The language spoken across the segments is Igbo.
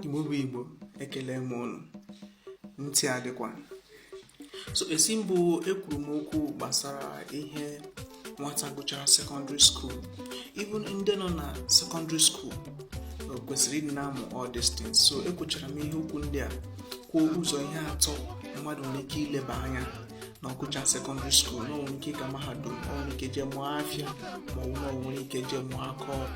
igbo bụ igbo ekele m unu ntị adịkwa so esi mbụ ekwuru m okwu gbasara ihe nwata gụchara sekọndịrị skuul ife ndị nọ na sekọndịrị skuul kwesịrị ịdị na-amụ all these things so ekwuchara m ihe okwu ndị a kwuo ụzọ ihe atọ mmadụ nwere ike ileba anya na ọ gụchaa sekọndịrị skuul na o nwere ike ịga mahadum o nwere ike jee mụọ afịa ma ọ wụ na o nwere ike jee mụọ aka ọrụ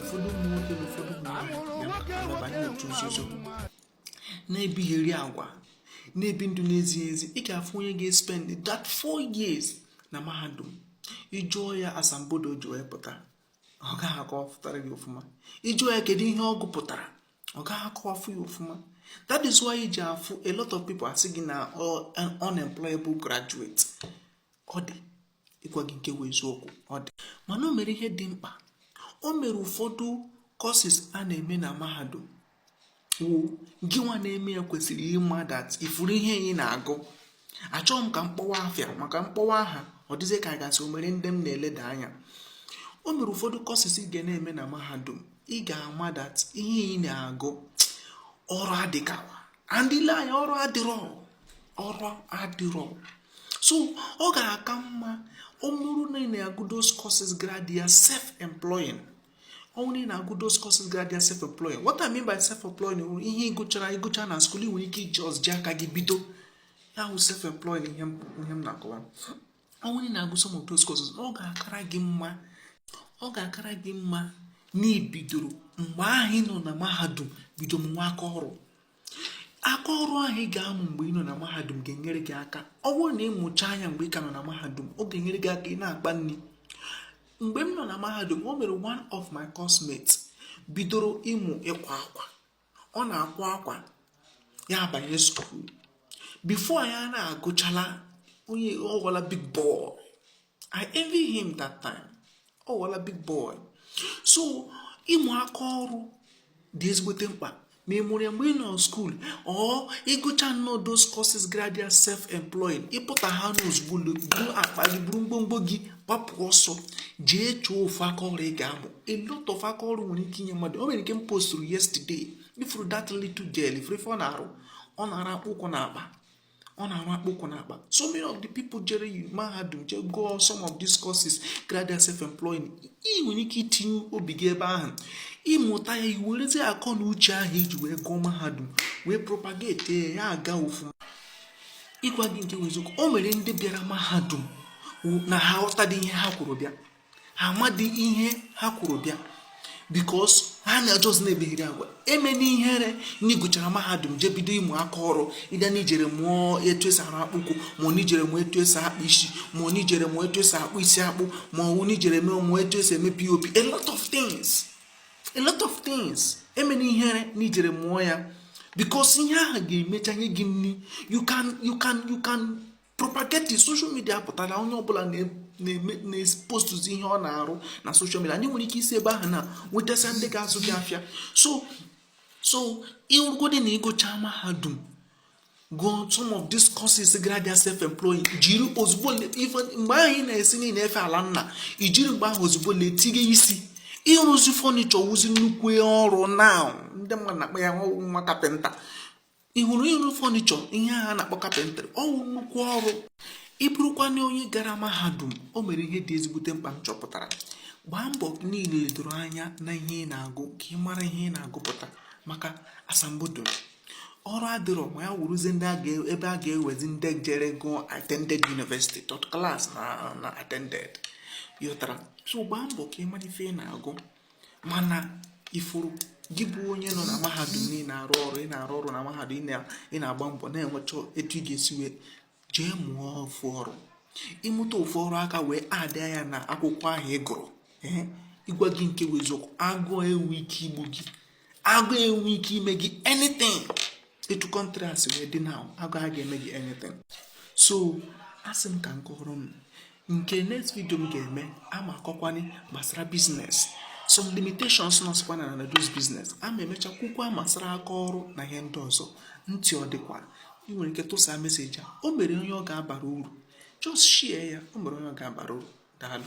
ụfọdụ ụmụ nwoke na ụfọdụ ụmụ nwaanyị na-eche nzuzu na-ebigheri agwa na-ebi ndụ na-ezighị ezi ị ga-afụ onye ga-espend that four years na mahadum ị jụọ ya asambodo o ji wee pụta ọ gaghị akọwapụtara gị ọfụma ị jụọ ya kedu ihe ọ gụpụtara ọ gaghị akọwafụ ya ọfụma that is why i ji afụ a lot of people asị gị na unemployable graduate ọ dị ịgwa gị nke bụ eziokwu ọ dị mana o nwere ihe dị mkpa o nwere ụfọdụ courses a na-eme na mahadum wụ gị nwa na-eme ya kwesịrị ịma that ị fụrụ ihe ị na-agụ achọghị m ka m kpọwa afa maka m kpọwa aha ọ dịzie ka a ga-asị o nwere ndị m na-eleda anya o nwere ụfọdụ courses ị ga na-eme na mahadum ị ga-ama that ihe ị na-agụ ọrụ adịkawa and i lee anya ọrụ adịrọ ọrụ adịrọ so ọ ga-aka mma ọ bụrụ na ị na-agụ those courses grad ya self employing ọ wụ na ị na-agụ those courses grad ya self employing what I mean by self employing bụ ihe ị gụchara ị gụchaa na skuul ị nwere ike iji ọzọ ji aka gị bido ya wụ self employing ihe m na-akọwa ọ wụ na ị na-agụ some of those courses ọ ga-akara gị mma ọ ga-akara gị mma na i bidoro mgbe ahụ ị nọ na mahadum bido mụwa aka ọrụ aka ọrụ ahụ ị ga-amụ mgbe ị nọ na mahadum ga-enyere gị aka ọ bụrụ na ị mụchaa ya mgbe ị ka nọ na mahadum ọ ga-enyere gị aka ị na-akpa nri mgbe m nọ na mahadum o nwere one of my coursemates bidoro ịmụ ịkwa akwa ọ na-akwa akwa ya abanye skuul before ya na-agụchala ọ wụọla big boy i envy him that time ọ wụọla big boy so ịmụ aka ọrụ dị ezigbote mkpa ma ị mụrụ ya mgbe ị nọ skuul or ị gụchaa nnọọ those courses graduate self employing ị pụta ha n'ozugbo buru akpa gị buru ngwongwo gị gbapụ ọsọ jee chọọ ofu aka ọrụ ị ga-amụ a lot of aka ọrụ nwere ike inye mmadụ o nwere nke m postụrụ yesterday ị fụrụ that little girl ị fụrụ ife ọ na-arụ ọ na-arụ akpụkwụ na akpa ọ na-arụ akpụkwụ na akpa so many of the people jere mahadum jee gụọ some of these courses graduate self employing ị nwere ike itinye obi gị ebe ahụ ị mụta ya i werezie akọ na uche ahụ i ji wee gụọ mahadum wee propagate ya aga ọfụma ịgwa gị nke wụ eziokwu o nwere ndị bịara mahadum na ha ghọtadị ihe ha kwuru bịa amadị ihe ha kwuru bịa bikos ha na-ajọzi na-emegheri agwa emena ihere n'igụchara mahadum jee bido ịmụ aka ọrụ ịbịa n'ijere mụọ etu esi arụ akpụkwụ ma n'ijere mụọ etu esi akpụ isi ma n'ijere mụọ etu esi akpụ isi akpụ ma ọ n'ijere mee mụọ etu esi eme pop a lot of things a lot of things emena ihere n'ijere mụọ ya bikos ihe ahụ ga-emecha nye gị nri you can you can you can propagating social media pụtara onye ọbụla na-eme na-epostuzi ihe ọ na-arụ na social media and ị nwere ike isi ebe ahụ na-enwetasị ndị ga-azụ gị afịa so so ịrụgodị na ịgụcha mahadum gụọ some of these courses gara dị self employing jiri ozugbo even mgbe ahụ ị na-asị na ị na-efe ala nna i jiri mgbe ahụ ozugbo na-etinye isi ịrụzi fọnichọ wụzi nnukwu ọrụ na ndị mmadụ na-akpọ ya nwa kapịnta ị hụrụ ịrụ fọnichọ ihe a na-akpọ kapịntrị ọwụ nnukwu ọrụ ị bụrụkwanụ onye gara mahadum o nwere ihe dị ezigbote mkpa m chọpụtara gbaa mbọ niile ledoro anya na ihe ị na-agụ ka ị mara ihe ị na-agụpụta maka asambodo ọrụ adịrọ ma ya wụrụzie ndị ebe a ga-ewezi ndị jere gụọ attended university third class na attended yọtara so gbaa mbọ ka ị mara ife ị na-agụ mana ị fụrụ gị bụ onye nọ na mahadum na ị na-arụ ọrụ ị na-arụ ọrụ na mahadum ị na-agba mbọ na-enwecha etu ị ga-esi wee jee mụọ ofu ọrụ ịmụta ofu ọrụ aka wee adịa ya na akwụkwọ ahụ ị gụrụ ịgwa gị nke bụ eziokwu agụụ enwe ike igbu gị agụụ enwe ike ime gị anything etu kọntrị a si wee dị na agụụ a ga-eme gị anything so asị m ka m kọrọ m nke next video m ga-eme ama akọkwanye gbasara biznes some limitations nọsịkwa na na those biznes ama emecha kwukwa gbasara aka ọrụ na ihe ndị ọzọ ntị ọ dịkwa ị nwere ike tụsa meseji a o nwere onye ọ ga-abara uru just share ya o nwere onye ọ ga-abara uru daalụ